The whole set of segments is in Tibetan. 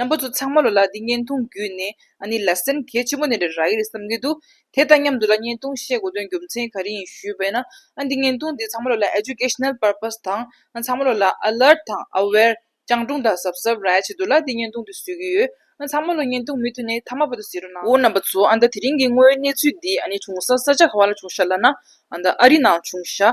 རྣམ་པ་ཚོ་ཚང་མ་ལོ་ལ་འདི་བརྙན་ཐུང་བརྒྱུད་ནས་ཨ་ནི་ལ་སེམས་གལ་ཆེན་པོ་ནས་རེ་ར་ཡི་རེད་བསམ་གྱི་འདུག་དེ་དང་མཉམ་དུ་ལ་བརྙན་ཐུང་བཤད་དགོས་དོན་རྒྱུ་མཚན་ག་རེ་ཡིན་ཞུས་པས་ན་ཨ་འདི་བརྙན་ཐུང་འདི་ཚང་མ་ལོ་ལ Educational Purpose དང་ཚང་མ་ལོ་ལ Alert དང Aware སྤྱང་གྲུང་དང་གཟབ་གཟབ་ར་བྱེད་དུ་ལ་འདི་བརྙན་ཐུང་འདི་བཟོས་ཀྱི་ཡོད་ཚང་མ་ལོ་བརྙན་ཐུང་མི་མཐུན་ནས་མཐའ་མ་པ་དུ་ཟེར་རོ་ནའོ་རྣམ་པ་ཚོ་ཨ་ད་དེ་རིང་གི་དངོས་ཡོད་གནས་ཚུལ་འདི་ཨ་ནི་བྱུང་ས་ས་ཆ་ག་བ་ལ་བྱུང་ཤ་ལ་ན་ཨ་ད་ཨ་རི་ནང་བྱུང་ཤ།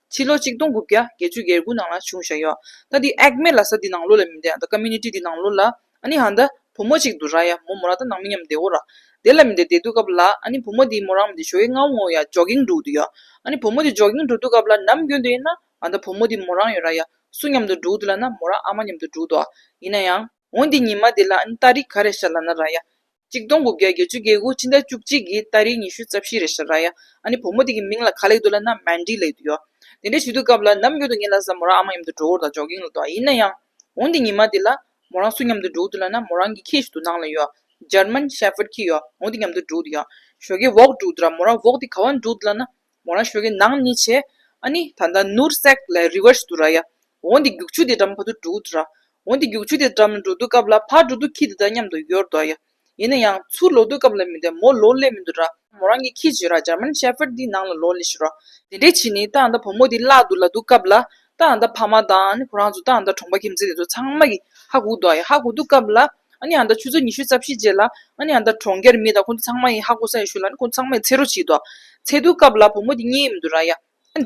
ཕྱི་ལོ་ཆིག་སྟོང་དགུ་བརྒྱ་བརྒྱད་ཅུ་ཡར་དགུ་ནང་ལ་བྱུང་བཞག་ཡོད། ད་འདི་ཨེག་མེ་ལ་ས་འདི་ནང་ལོ་ལ་མི་འདེ་ཨ་ད Community འདི་ནང་ལོ་ལ་ཨ་ནི་ཧ་འདི་བུ་མོ་ཅིག་འདུ་ར་ཡ་མོ་མོ་ར་ད་ནང་མི་ཉམས་འདེ་ཨོ་ར་འདེ་ལ་མི་འདེ་འདེ་འདུ་སྐབས་ལ་ཨ་ནི་བུ་མོ་འདི་མོ་རང་མི་འདེ་ཞོ་ཡའི་རྔ་བོ་ངོ་ཡ Jogging འདུག་འདུ་ཡོད། ཨ་ནི་བུ་མོ་འདི Jogging འདུག་འདུ་སྐབས་ལ་ནམ་རྒྱུན་འདི་ཡིན་ན་ཨ་ད་བུ་མོ་འདི་མོ་རང་ཡོད་ར་ཡ་སུ་མཉམ་དུ་འདུག་འདི་ལ་ན་མོ་ར་ཨ་མ་མཉམ་དུ་འདུག་འདུ་ཨ་ཡིན་ན་ཡང། འོ་འདི་ཉི་མ་འདི་ལ་ཨ་ནི་རྟ་རི་ག་རེ་ཤ་ལ་ན་ར་ཡ། གཅིག་སྟོང་དགུ་བརྒྱ་བརྒྱད་ཅུ་བརྒྱད་དགུ་ཕྱི་ཟླ་བཅུ་གཅིག་གི་ད་རེས་ཉི་ཤུ་རྩ་བཞི་རེད་ཤ་ར་ཡ། ཨ་ནི་བུ་མོ་དེ་གི་མིང་ལ་ག་ལེགས་འདུག་ལ་ན Mandy ལེགས་འདུག་ཡོ། དེ་འདྲའི་ཞུ་དུས་སྐབས་ལ་ནམ་རྒྱུན་དུ་ངེད་ལ་ས་མོ་རང་ཨ་མ་མཉམ་དུ་འགྲོ་འོར་དང་ཇོག་གིང་ལ་འདུག་ཨ་ཡིན་ན་ཡང། འོང་དེ་ཉི་མ་དེ་ལ། མོ་རང་སུ་མཉམ་དུ་འགྲོ་འདུག་ལ་ན་མོ་རང་གི་ཁྱི་ཞིག་འདུག་ནང་ལ་ཡོ། German Shepherd ཁྱི་ཡོ། འོང་དེ་མཉམ་དུ་འགྲོ་འདུག་ཡོ། ཞོ་གས་འོག་འགྲོ་འདུག་ལ་མོ་རང་འོག་དེ་ག་བ་འགྲོ་འདུག་ལ་ན། མོ་རང་ཞོལ་གྱི་ནང་གཉིས་བྱས། ཨ་ནི། ད་ལྟ་ནུར་བསྲེགས་ལས་རི་བར་ཟུར་ར་ཡ། འོང་འདི་རྒྱུག་ཆུ་དེ་འགྲམ་ཕ་དུ་འགྲོ་འུ་ར། འོང་འདི་རྒྱུག་ཆུ་དེ་འགྲམ་འགྲོ་འདུག་སྐབས་ལ་ཕ་འགྲོ་འདུག་ཁྱི་འདི་དང་མཉམ་དུ་ཡོར་འདུག་ཡ། ཡིན་ན་ཡང་ཚུར་ལོག་འདུག་སྐབས་ལ་མི་འདེ་མོ་ལོ་སླེ་མི་འདུག་ར། མོ་རང་གི་ཁྱི་བྱི་ར་ཇར་མན་ཤེ་ཕེར་འདི་ནང་ལ་ལོ་སླེ་ཤི་ར། དེ་འདྲའི་ཁྱི་ནི་ད་ལྟ་བུ་མོ་འདི་བརླག་འདུག་ལ་འདུག་སྐབས་ལ་རྟ་འདི་ཕ་མ་དང་ཁོ་རང་ཚོ་རྟ་འདི་གྲོངས་པ་ཁྱིམ་མཚེས་དེ་ཚོ་ཚང་མ་གིས་ཧ་གོ་འདུག་ཧ་གོ་འདུག་སྐབས་ལ། འདི་ཆུ་ཚོད་ཉི་ཤུ་རྩ་བཞི་རྗེས་ལ། འདི་གྲོང་ཁྱེར་མི་དང་ཁོ་ཚོ་ཚང་མ་ཡིན་ཧ་གོ་ས་ཡིན་ཞུ་ལ་ཁོ་ཚོ་ཚང་མས་ཚེ་རོགས་བྱེད་འདུག། ཚེ་འདུག་སྐབས་ལ་བུ་མོ་དེ་གཉིས་མི་འདུག་ར་ཡ།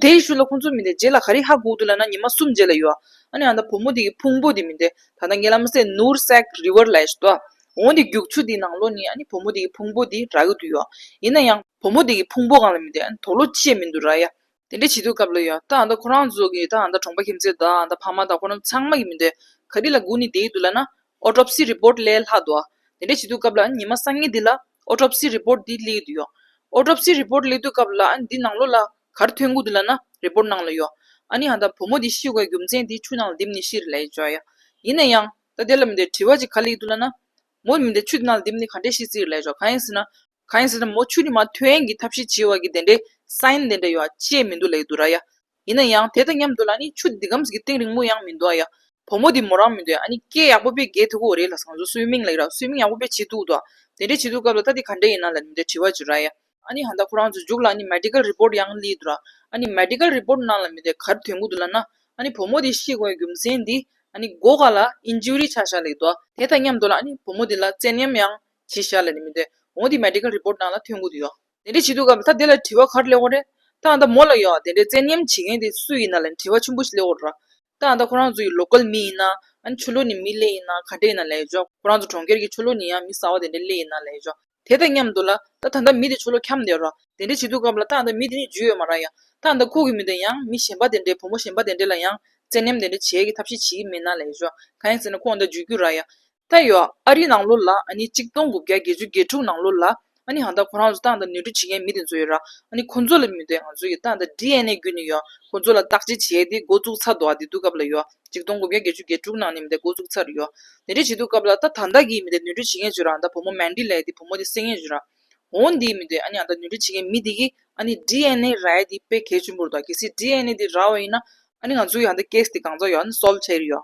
དེ་ཡིན་ཞུ་ལ་ཁོ་ཚོ་མི་འདེད་རྗེས་ལ་ག་རེ་ཧ་གོ་འདུག་ལ་ན་ཉི་མ་གསུམ་རྗེས་ལ་ཡོད། འདི་བུ་མོ་དེ་གི་ཕུང་པོ་དེ་མི་འདེད་ད་ལྟ་ངའི་ལམ་སེང་ནུར་སྲེག River Ledge དུ། འོན་ཏེ་རྒྱུགས་ཆུ་དེའི་ནང་ལོགས་ནས་བུ་མོ་དེ་གི་ཕུང་པོ་དེ་རག་ཡོད་དུ་ཡོད། ཡིན་ན་ཡང། བུ་མོ་དེ་གི་ཕུང་པོ་གང་ལ་མི་འདེད་དོགས་སློ་ཅི་ཡང་མི་འདུག་ར་ཡ། དེ་འདྲའི་བྱིས་དུས་སྐབས་ལ་ཡང་ད་ང་ད་ཁོ་རང་ཚོ་གི་ད་ང་ད་གྲོང་པ་ཁྱིམ་མཚེས་དག་ད་ཕ་མ་དག་ཁོ་རང་ཚང་མ་ཡིན་མི་འདོད། ག་དུས་ལ་སྒུག་ནས་བསྡད་ཡོད་འདུག་ལ་ན། Autopsy Report གླས་ལྷག་འདུག། དེ་འདྲའི་བྱིས་དུས་སྐབས་ལ་ཉི་མ་སང་ཉིན་འདི་ལ Autopsy Report འདི་གླས་ཡོད་འདུག་ཡོད། Autopsy Report གླས་དུས་སྐབས་ལ་འདི་ནང་ལོགས་ལ་གར་ཐོན་སྒུག་འདུག་ལ་ན Report ནང་ལ་ཡོད། ཨ་ནི་ང་ད་བུ་མོ་འདི་ཤི་བའི་རྒྱུ་མཚན་འདི་ཆུ་ནང་ལ་རྡིབ་ནས་ཤི་རེད་ལ་ཡ་ཅོ་ཡ། ཡིན་ན་ཡང། ད་དེ་ལ་མི་འདོད་དྲི་བ་ཅིག་ག་གླས་ཡོད་འདུག་ལ་ན། མོ་མི་འདི་ཆུ་འདི་ནང་ལ་རྡིབ་ནས་ག་འདྲས་ཤི་རྩིས་རེད་ལ་ཡ་ཅོ་གང་ཡིན་ཟེར་ན། གང་ཡིན་ཟེར་ན་མོ་ཆུ་ནི་མ་ཐོན་ཡན་གྱི་ཐབས་ཤེས་བྱེད་བར་གྱི་དེ་འདྲའི Sign དེ་འདྲ་ཡོད་པ་ཅེས་མི་འདུག་ལེགས་འདུག་ར་ཡ། ཡིན་ན་ཡང་དེ་དང་མཉམ་དུ་ལ་ནི་ཆུ་འདི་ཁམས་ཀྱི་སྟེང་རིང་མོ་ཡང་མི་འདུག་ཨ་ཡ། བུ་མོ་འདི་མོ་རང་མི་འདུག་ཨ་ནི་སྐད་ཡག་པོ་པས་རྒས་ཐུག་གོ་རེད་ལ་བཟང་བཟོ་སུའི་མིང་ལེགས་ར་སུའི་མིང་ཡག་པོ་པས་བྱེད་ཐུག་འདུག་དེ་འདྲའི་བྱེད་ཐུག་སྐབས་ལ་ད་འདི་ག་འདྲ་ཡིན་ན་ལ་འདི་འདྲའི་དྲི་བ་བྱོས་ར་ཡ། ཨ་ནི་ཧན་ད་ཁོ་རང་ཚོ་རྒྱུགས་ལ་ནི Medical Report ཡང་གླིགས་འདུག་ར་ཨ་ནི Medical Report ནང་ལ་མི་འདུག་གར་དོན་གུ་འདུག་ལ་ན་ཨ་ནི་བུ་མོ་འདི་ཤི་གོ་ཡ་རྒྱུ་མཚན་འདི་ཨ་ནི་སྒོ་ཁ་ལ Injury ཆགས་ཤག་ལེགས་འདུག་དེ་དང་མཉམ་དུ་ལ་ཨ་ནི་བུ་མོ་འདི་ལ་བཙན་གཡེམ་ཡང་ཅིག་ཤར་ལ་ནི་མི་འདོད། འོང་འདི Medical Report ནང་ལ་ཐོན་དགོས་དུ་ཡོད། དེ་འདྲས་བྱེད་དུ་གམ་ད་དེ་ལ་དྲི་བ་གར་སླེབས་འོང་རེད། ད་ད་མོ་ལ་ཡོང་དེ་འདྲས་བཙན་གཉེམ་བྱེད་མཁན་དེ་སུ་ཡིན་ན་ལ་ནི་དྲི་བ་ཆུན་པོ་ཞིག་སླེབས་འོང་རོགས། ད་ད་ཁོ་རང་ཚོ་ཡི Local མི་ཡིན་ན་ཨ་ནི་ཆོས་ལུགས་ནི་མི་ལེ་ཡིན་ན་ག་འདྲས་ཡིན་ན་ལས་ཆོག་ཁོ་རང་ཚོ་གྲོང་ཁྱེར་གྱི་ཆོས་ལུགས་ནི་ཡང་མི་བཟང་བ་དེ་འདྲས་ལེ་ཡིན་ན་ལས་ཆོག་དེ་དང་མཉམ་དུ་ལ་ད་ད་ད་མི་དེ་ཆོས་ལུགས་འཁྱམ་འདེད་རོགས་དེ་འདྲས་བྱེད་དུ་གམ་ལ་ད་ད་མི་དེ་ནི་རྒྱུས་ཡོད་མ་རག་ཡང་ད་ད་ཁོ་གི་མི་དང་ཡང་མི་གཞན་པ་དེ་འདྲས་བུ་མོ་གཞན་པ་དེ་འདྲས་ལ་ཡང་བཙན་གཉེམ་དེ་འདྲས་བྱེད་ཀྱི་ཐབས་ཤེས་བྱེད་ཀྱི་མིན་ན་ལས་ཆོག་གང་ཡིན་ཟེར་ན་ཁོང་ད་རྒྱུས་རྒྱུས་རག་ཡ། ད་ཡོད་ཨ་རིའི་ནང་ལོ་ལ་གཅིག་སྟོང་དགུ་བརྒྱ་བརྒྱད་ཅུ་བརྒྱད་དྲུག་ནང་ལོ་ལ་ཧང་ད་ཁོ་རང་ཚོ་ཏང་དང་ནུས་འདྲི་བྱེད་མཁན་མི་དེ་ཚོ་ཡོད་ར་ཁོ་ཚོ་ལ་མི་འདོད་ང་ཚོ་ཡི་ཏང་དང་ཏྲི་ཨན་ཨེ་རྒྱུད་ནས་ཡོད་ཁོ་ཚོ་ལ་བརྟག་དཔྱད་བྱེད་དེ་འགོ་བཙུགས་ཚར་འདུག་ཨ་དེ་དུས་སྐབས་ལ་ཡོད་གཅིག་སྟོང་དགུ་བརྒྱ་བརྒྱད་ཅུ་བརྒྱད་དྲུག་ནང་ནས་མི་དེ་འགོ་བཙུགས་ཚར་ཡོད་ནུས་འདྲི་བྱེད་དུས་སྐབས་ལ་ད་ད་ལྟ་གི་མི་དེ་ནུས་འདྲི་བྱེད་མཁན་ཚོས་རང་ད་བུ་མོ་མན་དྲི་ལའི་དེ་བུ་མོ་དེ་བསད་མཁན་ཚོས་ར་འོ་འདིའི་མི་འདོད་ཨ་ད་ནུས་འདྲི་བྱེད་མཁན་མི་དེ་གིས་ཨ་ཏྲི་ཨན་ཨེ་ར་ཡི་དེ་དཔེ་གལ་ཆེན་པོ་རེད་དོ་གལ་སྲིད་ཏྲི་ཨན་ཨེ་དེ་ར་འོ་ཡིན་ན་ཨ་ང་ཚོ་ཡི་ཧང་ད case དེ་གང་ཙམ་ཡོད་ཨ་སོལ་བྱས་ཡོད།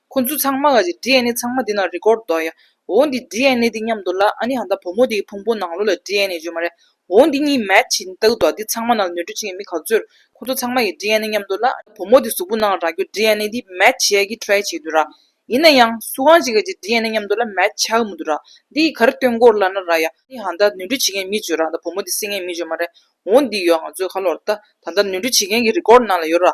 ཁོ་ཚོ་ཚང་མ་ག་ཟེ་དྲི་ཨན་ནེ་ཚང་མ་འདི་ན་རི་ཀོར་འདོག་ཡ། འོ་འདི་དྲི་ཨན་ནེ་འདི་སྙམ་འདུག་ལ་ཨ་ནི་ཧ་ད་བུ་མོ་འདི་གི་ཕུང་པོ་ནང་ལོ་ལ་དྲི་ཨན་ནེ་བརྗོད་མ་རེད། འོ་འདི་གཉིས་མེད་ཇི་ལྟ་བུ་འདུག་འདི་ཚང་མ་ན་ལ་ནོར་འཁྲུལ་བྱེད་མཁན་མི་ག་ཚོད་རེད། ཁོ་ཚོ་ཚང་མ་གི་དྲི་ཨན་ནེ་སྙམ་འདུག་ལ་ཨ་ནི་བུ་མོ་འདི་གཟུགས་པོ་ནང་ལ་རག་རྒྱུ་དྲི་ཨན་ནེ་འདི་མེད་ཇི་ཡ་གི try བྱེད་འདུག་ར། ཡིན་ན་ཡང་སུ་གང་ཞིག་ག་ཟེ་དྲི་ཨན་ནེ་སྙམ་འདུག་ལ་མེད་ཆགས་མུ་འདུག་ར། འདི་གི་གར་སྟོན་སྐོར་ལ་ན་ར་ཡ། ཨ་ནི་ཧ་ད་ནོར་འཁྲུལ་བྱེད་མཁན་མི་བརྗོད་ར་ཨ་ད་བུ་མོ་འདི་སྲིད་ངན་མི་བརྗོད་མ་རེད། འོ་འདི་ཡོད་ང་ཚོའི་ཁ་ལོར་ད། ད་ནོར་འཁྲུལ་བྱེད་མཁན་གི་རི་ཀོར་ནང་ལ་ཡོད་ར།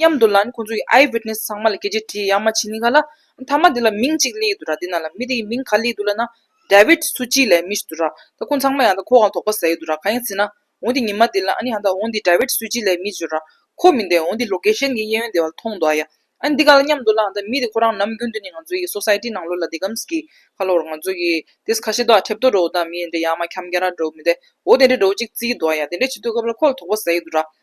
མཉམ་དུ་ལན་ཁོང་ཚོ་ཡི་ཨའི་བིཏ་ནེས་ཚང་མ་ལ་སྐད་ཆ་དྲིས་ཡག་མ་བྱིན་ནི་ག་ལ། མཐའ་མ་དེ་ལ་མིང་གཅིག་གླེང་ཡི་འདུག་ར་དེ་ན་ལ་མི་དེ་ཡི་མིང་ག་གླེང་འདུག་ལ་ན། David Suchi ལའི་མི་ཞིག་འདུག་ར་ད་ཁོང་ཚང་མ་ཡང་ད་ཁོ་གང་དོག་པ་ཟ་ཡི་འདུག་ར་ག་ཡིན་ཟེར་ན། འོང་དེ་ཉི་མ་དེ་ལ་ཨ་ནི་ཧ་ད་འོང་དེ David Suchi ལའི་མི་ཟེར་ར། ཁོ་མི་འདེ་འོང་དེ Location གི་གཡས་གཡོན་དེ་བ་ལ་མཐོང་འདུག་ཨ་ཡ། ཨ་ནི་འདི་ག་ལ་མཉམ་འདུག་ལ་ཨ་ད་མི་དེ་ཁོ་རང་ནམ་རྒྱུན་དུ་ནི་ང་ཚོ་ཡི Society ནང་ལོ་ལ་དེ་གམ་ཟིག་གི། ཁ་ལོ་ར་ང་ཚོ་གི་དེས་ཁ་ཤེ་འདུག་ཨ་ཁྲེབ་ཏོ་འགྲོ་འོ་ད་མི་འདྲེ་ཡག་མ་ཁྱམ་རྒན་ར་འགྲོ་མི་འདེ་འོ་དེ་འདྲེ་འགྲོ་ཅིག་རྩི་ཡི་འདུག་ཨ་ཡ་དེ་འདྲེ་བྱེད་དུས་ག་བ་ལ་ཁོ་ལ་དོག་པ་ཟ་ཡི་འདུག་ར།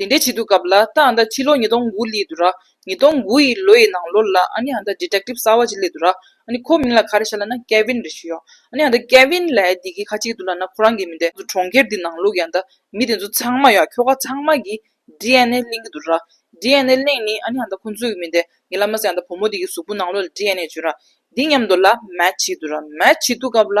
དེ་འདྲའི་བྱེད་དུ་སྐབས་ལ་ད་ཨ་ད་ཕྱི་ལོ་ཉིས་སྟོང་དགུ་ལི་དུ་ར་ཉིས་སྟོང་དགུ་ཡི་ལོ་ཡི་ནང་ལོར་ལ་ཨ་ནི་ཨ་ད Detective གསར་བ་ཅིག་ལི་དུ་ར་ཨ་ནི་ཁོ་མིང་ལ་ག་རེ་བྱ་ལ་ན Kevin རེ་ཞུ་ཡོང་ཨ་ནི་ཨ་ད Kevin ལ་ཡ་དེ་གི་ཁ་ཅིག་དུ་ལ་ན་ཁོ་རང་གི་མི་དེ་གྲོང་ཁྱེར་དེ་ནང་ལུགས་ཡང་ད་མི་དེ་ཚོ་ཚང་མ་ཡང་ཁྱོ་ག་ཚང་མ་གི DNA གླེང་གི་དུ་ར DNA གླེང་ནི་ཨ་ནི་ཨ་ད་ཁོ་ཚོ་གི་མི་དེ་ངེད་ལ་མ་ཟད་ཡང་ད་བུ་མོ་དེ་གི་གཟུགས་པོ་ནང་ལོ་ལ DNA བཅོས་ར་དེ་མཉམ་དུ་ལ Match བྱེད་དུ་ར Match བྱེད་དུ་སྐབས་ལ།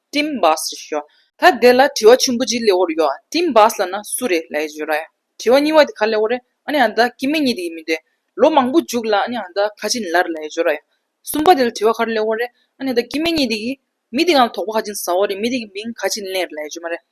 སྤྲིན་བགས་སུ་ཤོག། ད་དེ་ལ་དྲི་བ་ཆེན་པོ་གཅིག་ལེའོར་ཡོད། སྤྲིན་བགས་ལ་ན་སུ་རེད་ལ་ཡི་ཇོ་ར་ཡ། དྲི་བ་གཉིས་བ་དེ་ག་ལེའོ་རེད། ཨ་ནི་ཨ་མདའ་ཁྱི་མི་གཉིས་དེ་ཡིན་མི་འདོད། ལོ་མང་པོ་འཇུག་ལ་ཨ་ནི་ཨ་མདའ་ཁ་ཆེ་ལར་ལ་ཡི་ཇོ་ར་ཡ། གསུམ་པ་དེ་ལ་དྲི་བ་ག་རེ་ལེའོ་རེད། ཨ་ནི་ཨ་མདའ་ཁྱི་མི་གཉིས་དེ་གི། མི་དེ་གང་ལ་དོགས་པ་ཧ་ཅིང་ཟ་བ་རེད་མི་དེ་གི་མིང་ག་ཆེ་ལེར་ལ་ཡི་ཇོ་མ་རེད།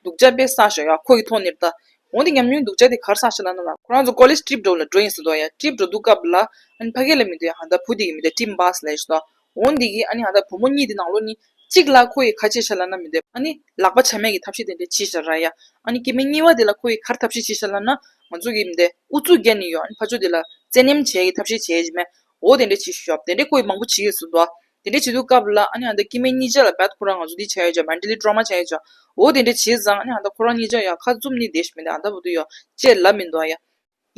སྡུག་ཅག་པས་བསགས་ཤོག་ཡ་ཁོ་གི་ཐོག་ནེར་བལྟ། འོན་ཏེ་ཉམས་མྱོང་སྡུག་ཅག་དེ་གར་བསགས་ཤེས་ན་ན་ལ། ཁོ་རང་ཚོ་ཀོ་ལེས་སྤྲིབ་འགྲོ་ལ་འགྲོ་ཡིན་ཟེར་དོ་ཡ་སྤྲིབ་འགྲོ་འདུག་སྐབས་ལ། ཨ་ནི་ཕ་གི་ལ་མི་འདོད་ཡ་ཧ་ད་བུ་འདི་གི་མི་འདོད་སྤྲིབ་འབགས་ཟེར་ལ་ཡིན་ཟེར་དོ། འོན་འདི་གི་ཨ་ནི་ཧ་ད་བུ་མོ་གཉིས་འདི་ནང་ལོ་ནི། གཅིག་ལ་ཁོ་ཡི་ཁ་ཆེ་ཤ་ལ་ན་མི་འདོད། ཨ་ནི། ལག་པ་ཆ་མེད་ཀྱི་ཐབས་ཤེས་དེ་འདྲས་བྱིས་ཤ་ར་ཡ། ཨ་ནི་སྐྱེས་དམན་གཉིས་བ་དེ་ལ་ཁོ་ཡི་ཁར་ཐབས་ཤེས་བྱིས་ཤ་ལ་ན། ང་ཚོ་གི་མི་འདོད་ཨུ་ཚུགས་བརྒྱ་ནི་ཡོད་ཨ་ནི་ཕ་ཆོས་དེ་ལ། བཙན་གནེམ་བྱས་ཀྱི་ཐབས་ཤེས་བྱས་བྱིས་མེད། འོ་དེ་འདྲ་བྱེད་ཞུ་བྱ། དེ་འདྲའི་བཀོད་མང་པོ་བྱེད་ཡོད་ཟེར་འདུག་ཨ། དེ་འདྲ་བྱེད་འདུག་སྐབས་ལ་ཨ་ནི་ཨ་མདའི་སྐྱེས་མའི་གཉིས་ཆ་ལ་བད་ཁོ་རང་ང་ཚོ་འདི་བྱ་ཡོད་བྱ་མནྡྲེ་ལི་སྤྲོ་མ་བྱ་ཡོད་བྱ། འོ་དེ་འདྲ་བྱས་ཙང་ཨ་ནི་ཨ་མདའ་ཁོ་རང་གཉིས་ཆ་ཡ་ཁ་བཙུམ་ནི་བསྡད་ཞུ་མནྡྲེ་ཨ་མདའ་བུ་དུ་ཡ། ཅེས་ལབ་མི་འདུག་ཨ་ཡ།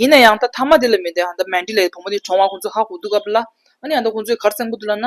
ཡིན་ན་ཡང་ད་ཐ་མ་དེ་ལ་མནྡྲེ་ཨ་མདའ་མནྡྲེ་ལའི་བུ་མོ་དེ་གྲོང་བ་ཁོང་ཚོ་ཧ་གོ་འདུག་སྐབས་ལ་ཨ་ནི་ཨ་མདའ་ཁོང་ཚོའི་གར་གཙང་པོ་དུ་ལ་ན།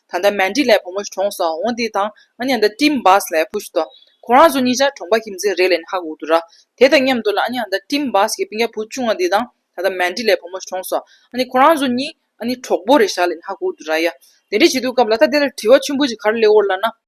ད་ལྟ་མན་ཏྲི་ལའི་བུ་མོ་གྲོངས་སོང་ངོ་འདི་དང་ང་གཉའ་ཟླ་ཀྲིམ་བཱས་ལའི་བུ་ཞིག་ཏོ། ཁོ་རང་ཚོ་གཉིས་ཆ་གྲོངས་པ་ཁྱིམ་མཚེས་རེད་ལན་ཧག་འུ་དུ་ར། དེ་དང་མཉམ་དུ་ལ་ཨ་གཉའ་ཟླ་ཀྲིམ་བཱས་ཀྱི་སྤུན་རྒྱ་བུ་ཆུང་བ་འདི་དང་ད་ལྟ་མན་ཏྲི་ལའི་བུ་མོ་གྲོངས་སོང་ཨ་ནི་ཁོ་རང་ཚོ་གཉིས་ཨ་ནི་གྲོགས་པོ་རེད་ཞག་ལན་ཧག་འུ་དུ་ར་ཡ། དེ་འདྲ་བྱེད་དུས་སྐབས་ལ་ད་དེ་ལ་དྲི་བ་ཆེན་པོ་ཞིག་གར་སླེ་འོར་ལ་ན།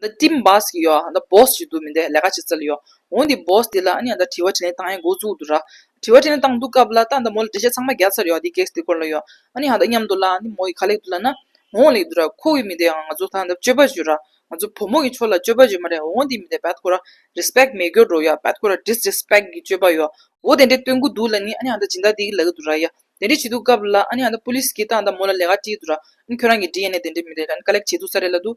འདི་ཏིམ་བཱས་ཀྱི་ཡོད་ཨ་འདི་བོས་ཀྱི་འདུག་མི་འདི་ལས་ཀ་བྱེད་རྩལ་ཡོད་འོ་འདི་བོས་འདི་ལ་ཨ་ནི་འདི་དྲི་བ་དྲིས་ལན་བཏང་ཡས་འགོ་བཙུགས་འདུག་ར་དྲི་བ་དྲིས་ལན་བཏང་འདུག་སྐབས་ལ་ད་འདི་མོ་ལ་འདྲི་བཤད་ཚང་མ་རྒྱག་ཚར་ཡོད་འདི་གེགས་འདི་སྐོར་ལ་ཡོད་ཨ་ནི་འདི་སྙམ་འདུག་ལ་འདི་མོ་ཡིས་ག་ལེགས་འདུག་ལ་ན་འོ་ལེགས་འདུག་ར་ཁོ་བོའི་མི་འདི་ང་ཚོ་ད་འདི་སྤྱོད་པ་བྱོས་ར་ང་ཚོ་བུ་མོ་གི་ཕྱོགས་ལ་སྤྱོད་པ་བྱོས་མ་རེད་འོ་འདི་མི་འདི་བད་ཁོ་ར Respect མེད་གྱོ་འགྲོ་ཡོད་བད་ཁོ་ར Disrespect གྱི་སྤྱོད་པ་ཡོད་འོ་དེ་འདྲས་སྟོན་གྱི་འདུག་ལ་ནི་ཨ་ནི་འདི་སྦྱིན་བདག་འདི་གི་ལག་གི་འདུག་ར་ཡ་དེ་འདྲས་བྱས་འདུག་སྐབས་ལ་ཨ་ནི་འདི Police གྱིས་ད་འདི་མོ་ལ་ལས་ཀ་དྲིས་འདུག་ར་ཁྱོད་རང་གི་འདྲིས་ཡས་ནས་དེ་འདྲས་མི་འདྲས་ཀ་ལེགས་བྱས་འདུག་ས་རེད་ལ་འདུག་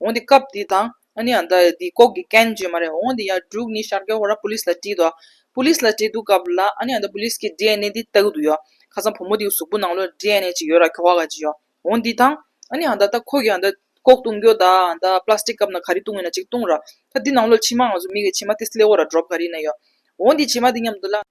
འོང་དེ་སྐབས་དེ་དང་ཨ་ནི་ཨ་མདའ་ཡི་དེའི་ལྐོག་གི་སྐད་བརྗོད་མ་རེད་འོང་དེ་ཡར་འབྲུག་ནི་ཤར་ཀའི་ཧོར་ར Police ལ་བཀྲིས་འདུག Police ལ་བཀྲིས་འདུག་སྐབས་ལ་ཨ་ནི་ཨ་མདའ Police གི DNA དེ་ལྟ་གི་འདུག་ཡོད་ཁ་སང་བུ་མོ་དེའི་གཟུགས་པོ་ནང་ལོར DNA ཅིག་ཡོད་ར་ཁྱོ་ག་ག་ཅིག་ཡོད་འོང་དེ་དང་ཨ་ནི་ཨ་མདའ་ད་ཁོ་གི་ཨ་མདའ་ལྐོག་བཏུང་རྒྱུ་ད་ཨ་མདའ Plastic སྐབས་ན་ག་རེ་བཏུང་ཡོད་ན་ཅིག་བཏུང་ར་ད་དེ་ནང་ལོར་མཆི་མ་ང་ཚོ་མི་གི་མཆི་མ་དེ་སླེ་བོ་ར Drop ག་རེ་ཡིན་ན་ཡོད་འོང་དེ་མཆི་མ་དེ་མཉམ་དུ་ལ།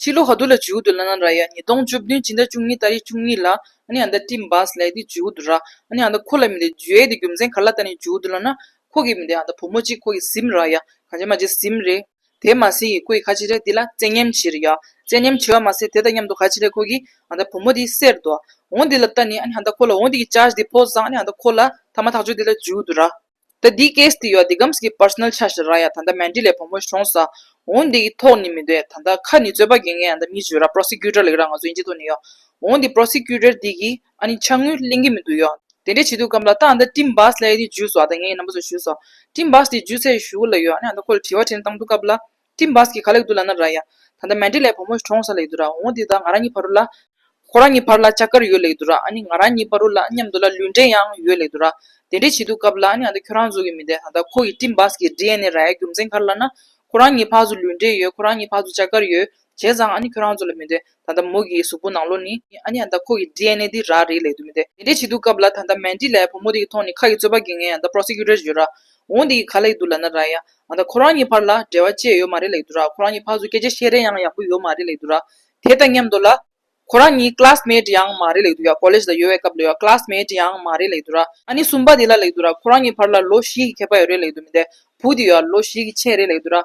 ཕྱི་ལོ་ཧ་དུ་ལ་ཇུའུ་དུ་ལ་ན་ར་ཡ་ཉིས་སྟོང་བཅུ་བདུན་ཕྱི་ཟླ་བཅུ་གཉིས་ད་རེས་བཅུ་གཉིས་ལ་ཨ་ནི་ཨ་མདའ་ཀྲིན་བཱ་སི་ལེགས་ཏི་ཇུའུ་དུ་ར་ཨ་ནི་ཨ་མདའ་ཁོ་ལ་མི་ཏེ་ཇུ་ཨེ་ཏི་རྒྱུ་མཚན་ག་ལ་ད་ནི་ཇུའུ་དུ་ལ་ན་ཁོ་གི་མི་ཏེ་ཨ་མདའ་བུ་མོ་གཅིག་ཁོ་གི་སིམ་ར་ཡ་གང་ཅེ་མ་ཅེ་སིམ་རེ། དེས་མ་སིང་གི་སྐུ་ཡི་ཁ་ཆེ་རེ་འདི་ལ་བཙན་ཉམས་ཆེ་རེ་ཡ་བཙན་ཉམས་ཆེ་བ་མ་ཟད་དེ་དང་མཉམ་དུ་ག་ཆེ་རེ་ཁོ་གི་ཨ་མདའ་བུ་མོ་དེའི་སེར་དོ་འོང་འདི་ལ་ད་ནི་ཨ་ནི་ཨ་མདའ་ཁོ་ལ་འོང་འདི་གི་ཅཱ་ཞི་དེ་ཕོ་བཟང་ཨ་ནི་ཨ་མདའ་ཁོ་ལ་ཐ་མ་ཐག་ཆོད་འདི་ལ་ཇུའུ་དུ་ར། ད་འདི case དེ་ཡོད་འདི་སྒམ་གྱི personal ཆ་ཞེ་ར་ཡ་ད་ད་མན་འདི་ལས་བུ་མོ་གཞོང་ས་འོང་འདི་ཡི་ཐོག་ནི་མི་འདོད་ད་ད་ཁ་ནི་རྩོད་པ་དགེ་ངས་ད་མི་བརྗོད་ར prosecutor ལེགས་ར་ང་ཚོ་ཡིན་ཅི་ཐུག་ནི་ཡོད་འོང་འདི prosecutor འདི་གི་ཨ་ནི་ཆ་དངུལ་གླེང་གི་མི་འདུག་ཡོད་དེ་འདྲས་བྱེད་འདུག་གམ་ལ་ད་ཨ་ད་སྤྲིན་བཟླས་དེ་འཇུས་སོ་ཨ་ད་ངའི་ནམ་པ་ཚོ་ཞུས་སོ་སྤྲིན་བཟླས་དེ་འཇུས་ཚད་ཞུ་གི་ལ་ཡོད་ཨ་ནི་ཨ་ད་ཁོ་ལ་དྲི་བ་དྲན་སྟངས་འདུག་སྐབས་ལ་སྤྲིན་བཱས་ཀྱིས་ག་ལེགས་འདུག་ལ་ན་ར་ཡ། ད་ལྟ་མན་ཏྲེ་ལའི་བུ་མོ་གྲོངས་ས་ལེགས་འདུག་ར་འོང་འདི་དག་ང་རང་གཉིས་བར་རུ་ལ། ཁོ་རང་གཉིས་བར་ལ་ལྕགས་མཁར་ཡོད་ལེགས་འདུག་ར་ཨ་ནི་ང་རང་གཉིས་བར་རུ་ལ་མཉམ་དུ་ལ་ལུས་འབྲེལ་ཡང་ཡོད་ལེགས་འདུག་ར། དེ་འདྲའི་བྱེད་སྡུག་སྐབས་ལ་ཨ་ནི་ང་ད་ཁྱོད་རང་ཚོ་གི་མི་འདས་ད་ལྟ་ཁོ་གི་སྤྲིན་བཱས་ཀྱི་འབྲི་ཨེ་ནེ་ར་ཡའི་རྒྱུ་མཚན་གར་ལ་ན། ཁོ་རང་གཉིས་བར་ཚོ་ལུས་འབྲེལ་ཡོད་ཁོ་རང་གཉིས་བར་ཚོ་ལྕགས་མཁར་ཡོད། བྱས་ཙང་ཨ་ནི་ཁྱོད་རང་ཚོ་ལ་མི་འདོད། ད་ལྟ་མོ་གི་གཟུགས་པོ་ནང་ལོགས་ནི། ཨ་ནེ་ཡང་ད་ཁོ་གི DNA དེ་རག་རེད་ལས་དུ་མི་བདེ། དེ་འདྲའི་བྱེད་སྡུག་སྐབས་ལ་ད་ད་མན་ཏི་ལའི་བུ་མོ་དེ་གི་ཐོག་ནས་ཁ་གི་རྩོད་པ་གི་ངས་ཡང་ད Prosecutor བརྗོད་རག་འོང་དེ་གི་ག་ལས་ཀི་འདུག་ལ་ན་ར་ཡ། ང་ད་ཁོ་རང་གཉིས་བར་ལ་འབྲེལ་བ་བཅད་ཡོད་མ་རེད་ལས་དུ་རག་ཁོ་རང་གཉིས་བར་སུ་སྐད་ཆ་བཤད་རན་ཡང་ཡག་པོ་ཡོད་མ་རེད་ལས་དུ་རག་དེ་དང་མཉམ་དུ་ལ། ཁོ་རང་གཉིས Classmate ཡང་མ་རེད་ལས་དུ་ཡ College ལ་ཡོད་བའི་སྐབས་ལ་ཡ Classmate ཡང་མ་རེད་ལས་དུ་རག་ཨ་ནེ་གསུམ་པ་དེ་ལ་ལས་དུ་རག་ཁོ་རང་གཉིས་བར་ལ་ལོ་བཞི་གི་ཁྱད་པ་ཡོད་རེད་ལས་དུ་མི་བདེ་བུ་དེ་ཡ་ལོ་བཞི་གི་ཆེད་རེད་ལས་དུ་རག་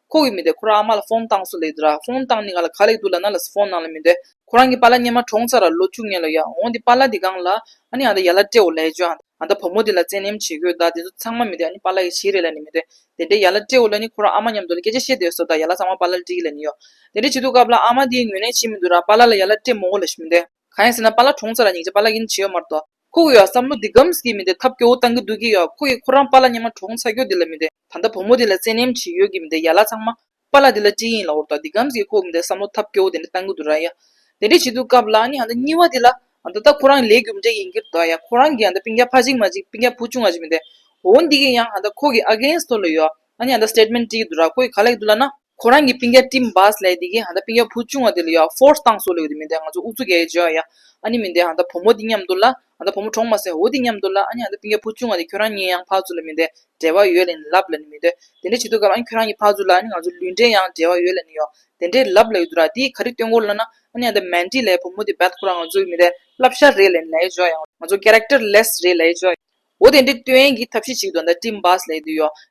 ཁོ་གི་མི་དེ་ཁོ་རང་ཨ་མ་ལ་ཧྥོང་བཏང་སུ་ལེགས་འདུག་ར་ཧྥོང་བཏང་ནི་ང་ལ་ག་ལེགས་འདུག་ལ་ན་ལ་སུ་ཧྥོང་གནང་ལ་མི་འདོད། ཁོ་རང་གི་པཱ་ལ་སྙེ་མ་གྲོངས་ཚར་ར་ལོ་བཅུ་ལྔས་ལོ་ཡག་འོང་འདི་པཱ་ལ་འདི་སྒང་ལ། ཨ་ནི་ཨ་ད་ཡ་ལ་ཏྲེའོ་ལའི་ཇོ་ཨ་ད་བུ་མོ་འདི་ལ་བཙན་གནེམ་བྱེད་དགོས་ད་འདི་ཚོ་ཚང་མ་མི་འདོད་ཨ་ནི་པཱ་ལ་ཡི་ཞིག་རེད་ལ་ནི་མི་འདོད། དེ་འདྲའི་ཡ་ལ་ཏྲེའོ་ལ་ནི་ཁོ་རང་ཨ་མ་མཉམ་དུ་ལ་སྐད་ཆ་བཤད་འདོད་སོ་ད་ཡ་ལ་ཚང་མ་པཱ་ལ་ལ་འདྲི་གི་ལ་ནི་ཡོད། དེ་འདྲ་བྱེད་འདུག་སྐབས་ལ་ཨ་མ་འདིའི་ངོས་ལེན་བྱེད་མི་འདུག་ར་པཱ་ལ་ལ་ཡ་ལ་ཏྲེ་མོ་འོ་ལ་ཞིག་མི་འདོད། གང་ཡིན་ཟེར་ན་པཱ་ལ་གྲོངས་ཚར་ར་ཉིག་ཅེ་པཱ་ལ་གི་ནི་བྱེད་ཡོད་མ་རེད་དོ། ཁོ་གི་ཡོད་བསམ་བློ་འདི་སྒམ་ཟིག་གི་མི་འདོད་ཐབས་སྐྱོ་བོ་བཏང་གི་འདུག་གི་ཡོད་ཁོ་གི་ཁོ་རང་པཱ་ལ་སྙེ་མ་གྲོངས་ཚར་སྐྱོ་འདི་ལ་མི་འདོད། ད་ལྟ་བུ་མོ་དེ་ལ་བཙན་གནོན་བྱེད་ཡོད་ཀྱི་མི་འདུག་ཡ་ལ་ཚང་མ། པཱ་ལགས་འདི་ལ་སྤྲིང་ཡིག་ལ་འོར་དང་འདི་སྒམ་གྱིས་ཁོག་འདི་བསམ་བློ་ཐབས་སྐྱོ་བོ་དེ་འདྲ་གཏང་གི་འདུག་ར་ཡ། དེ་འདྲ་བྱེད་དུས་སྐབས་ལ་ནི་འདི་སྙི་བ་དེ་ལ། ད་ལྟ་ཁོ་རང་ལས་རྒྱུ་མ་འདྲ་ཡིན་གྱི་འདུག་ཡ་ཁོ་རང་གིས་འདི་པིང་རྒྱ་ཕ་གཅིག་མ་གཅིག་པིང་རྒྱ་བུ་ཅུང་ང་གཅིག་མི་འདུག་འོ་འདི་གིས་ཡང་འདི་ཁོ་གི against ལ་ཡོད། ནི་འདི statement བྲིས་གི་འདུག་ར་ཁོ་གིས་ག་ལ་ཡིན་འདུག་ལ་ན། ཁོ་རང་གི་སྤིན་རྒྱ་ཏིམ་བཱས་ལས་དེ་གི་ཧན་ད་སྤིན་རྒྱ་བུ་ཆུང་བ་དེ་ལ་ཡོད་ཧྥོར་སྟངས་སུ་ལས་གི་མི་འདའི་ང་ཚོ་ཨུ་ཚུགས་ག་གི་བྱོས་ཡ་ཨ་ནི་མི་འདའི་ཧན་ད་བུ་མོ་དེ་མཉམ་དུ་ལ་ཧན་ད་བུ་མོ་གྲོངས་མ་སྲིད་འོ་དེ་མཉམ་དུ་ལ་ཨ་ནི་ཧན་ད་སྤིན་རྒྱ་བུ་ཆུང་བ་དེ་ཁྱོད་རང་གཉིས་ཡང་ཕག་ཚུ་ལ་མི་འདའི་འབྲེལ་བ་ཡོད་ལ་ནི་ལབ་ལ་ནི་མི་འདོད་དེ་འདྲ་བྱེད་དུས་སྐབས་ཨ་ནི་ཁྱོད་རང་གི་ཕག་ཚུ་ལ་ཨ་ནི་ང་ཚོ་ལུས་འབྲེལ་ཡང་འབྲེལ་བ་ཡོད་ལ་ནི་ཡོད་དེ་འདྲའི་ལབ་ལ་ཡོད་དུ་ར་དེ་ག་རི་སྟོན་གོ་ལ་ན་ཨ་ནི་ཧན་ད་མན་ཏི་ལའི་བུ་མོ་དེ་བད་ཁོ་རང་ང་ཚོ་གི་མི་འདའི་ལབ་ཤར་རེད་ལ་ནི་ལས་བྱོས་ཡ་ང་ཚོ Characterless རེད་ལས་བྱོས་ཡ་འོ་དེ་འདྲའི་སྟོན་གི་ཐབས་ཤེས་ཞིག་ཏུ་ཧན་ད་ཏིམ་བཱས་ལས་དེ་ཡོད།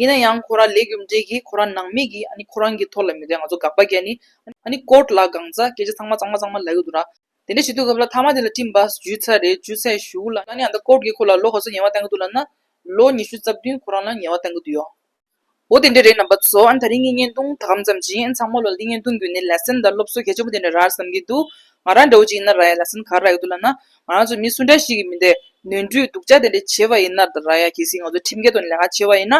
ཡིན་ན་ཡང་ཁོ་ར་ལས་རྒྱུ་འབྲས་ཀྱིས་ཁོ་ར་ནང་མི་གིས་ཨ་ནི་ཁོ་རང་གི་ཐོག་ལ་མི་དོན་ང་ཚོ་དགག་པ་རྒྱག་ནི། ཨ་ནི་ཀོར་ལ་སྒང་རྩ་སྐད་ཆ་ཚང་མ་གཙང་མ་གཙང་མ་ལ་ཡོད་འདུག་ར། དེ་འདྲ་བྱེད་དུས་སྐབས་ལ་ཐ་མ་དེ་ལ་སྤྲིན་པ་འཇུས་ཚར་རེད་འཇུས་ཚར་བཞུགས་ལ་ཨ་ནི་ཨ་མདའ་ཀོར་གིས་ཁོ་ལ་ལོ་ག་ཚོད་ཉེས་བ་བསྟན་གི་འདུག་ལ་ན། ལོ་ཉི་ཤུ་རྩ་བདུན་ཁོ་རང་ལ་ཉེས་བ་བསྟན་གི་འདུག་ཡོ། འོ་དེ་འདྲ་རེད་ནམ་པ་ཚོ་ཨ་ནི་ད་རིང་གི་བརྙན་ཐུང་ད་གམ་ཙམ་བྱིན་ཨ་ནི་ཚང་མ་ལོ་ལ་འདི་བརྙན་ཐུང་བརྒྱུད་ནས་ལེ་སན་དང་སློབ་གསོ་གལ་ཆེན་པོ་དེ་འདྲ་ར་བསམ་གི་འདུག་ང་རང་འདྲ་བོ་ཅིག་ཡིན་ན་ར་ཡ་ལེ་སན་ག་ར་ཡོད་འདུག་ལ་ན། ང་རང་ཚོ་མི་སུ་འདྲ་ཞིག་གིས་མི་འདེད། ནོན་འཁྲུལ་སྡུག་ཅག་དེ་འདྲ་བྱེད་པ་ཡིན་ནར་ར་ཡ་གལ་སྲིད་ང་ཚོ་ཁྲིམས་འགལ་དང་ལས་ཀ་བྱེད་པ་ཡིན་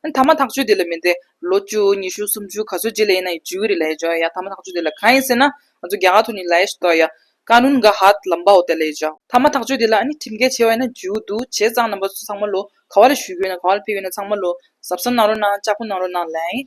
ན། ཐ་མ་ཐག་གཅོད་དེ་ལ་མི་འདེད། ལོ་བཅུ་ཉི་ཤུ་སུམ་ཅུ་ག་ཚོད་རྗེས་ལས་ཡིན་ན་ཡང་ཇུས་འགོད་རེ་ལས་བྱ་ཡ། ཐ་མ་ཐག་གཅོད་དེ་ལ་གང་ཡིན་ཟེར་ན། ང་ཚོ་རྒྱ་གར་དུ་ནི་ལས་ཡས་སུ་གཏོགས་ཡ། ཀ་ནུན་ག་ཧད་ལམ་པའོ་དེ་ལས་བྱ། ཐ་མ་ཐག་གཅོད་དེ་ལ་ཁྲིམས་འགལ་བྱེད་པ་ཡིན་ན་ཇུས་འགོད་འདུག་བྱས་ཙང་རྣམ་པ་ཚོ་ཚང་མ་ལོ་ག་བ་ལ་བཞུད་དགོས་ཡིན་ན་ག་བ་ལ་ཕེབས་ཡོད་ན་ཚང་མ་ལོ་གཟབ་གཟབ་གནང་རོགས་གནང་ལྕགས་ཕོ་གནང་རོགས་གནང་ལན།